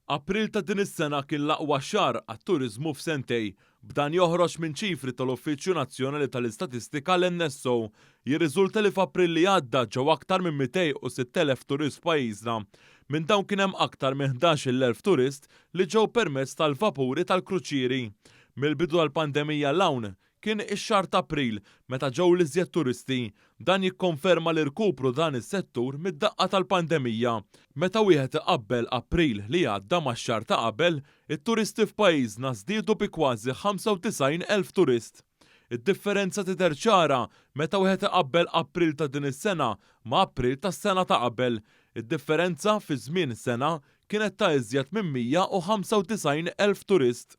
April ta' din is-sena kien l-aqwa xahar għat-turiżmu f'sentej. B'dan joħroġ minn ċifri tal-Uffiċċju Nazzjonali tal-Istatistika l-NSO. Jirriżulta li f'April li għadda ġew aktar minn 206,000 turist f'pajjiżna. Minn dawn kien hemm aktar minn 11-il elf turist li ġew permezz tal-vapuri tal-kruċieri. Mill-bidu tal-pandemija 'l hawn Kien ix-xahar t'April meta ġew l-iżjed turisti. Dan jikkonferma l-irkupru dan is-settur mid-daqqa tal-pandemija. Meta wieħed iqabbel April li għadda max-xahar ta' qabel, it-turisti f'pajjiżna żdiedu bi kważi 95 elf turist. Id-differenza tidher ċara meta wieħed iqabbel April ta' din is-sena ma' April tas-sena ta' qabel. Id-differenza fi żmien sena kienet ta' iżjed minn 195 elf turist.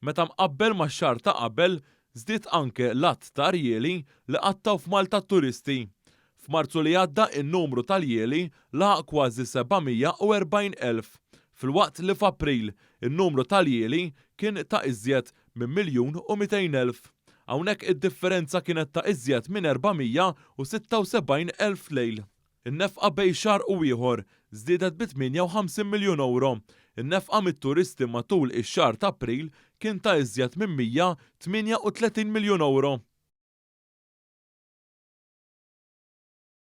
Meta mqabbel max-xahar ta' qabel, żdied anke l-għadd ta' rjieli li qattgħu f'Malta t-turisti. F'Marzu li għadda n-numru tal-jieli laħaq kważi 740 elf, filwaqt li f'April in-numru tal-jieli kien ta' iżjed minn miljun u mitejn elf. Hawnhekk id-differenza kienet ta' iżjed minn 476 elf lejl. In-nefqa bejn xahar u ieħor żdiedet bi 58 miljun ewro. In-nefqa mit-turisti matul ix-xahar ta' April kien ta' iżjed minn 138 miljun ewro.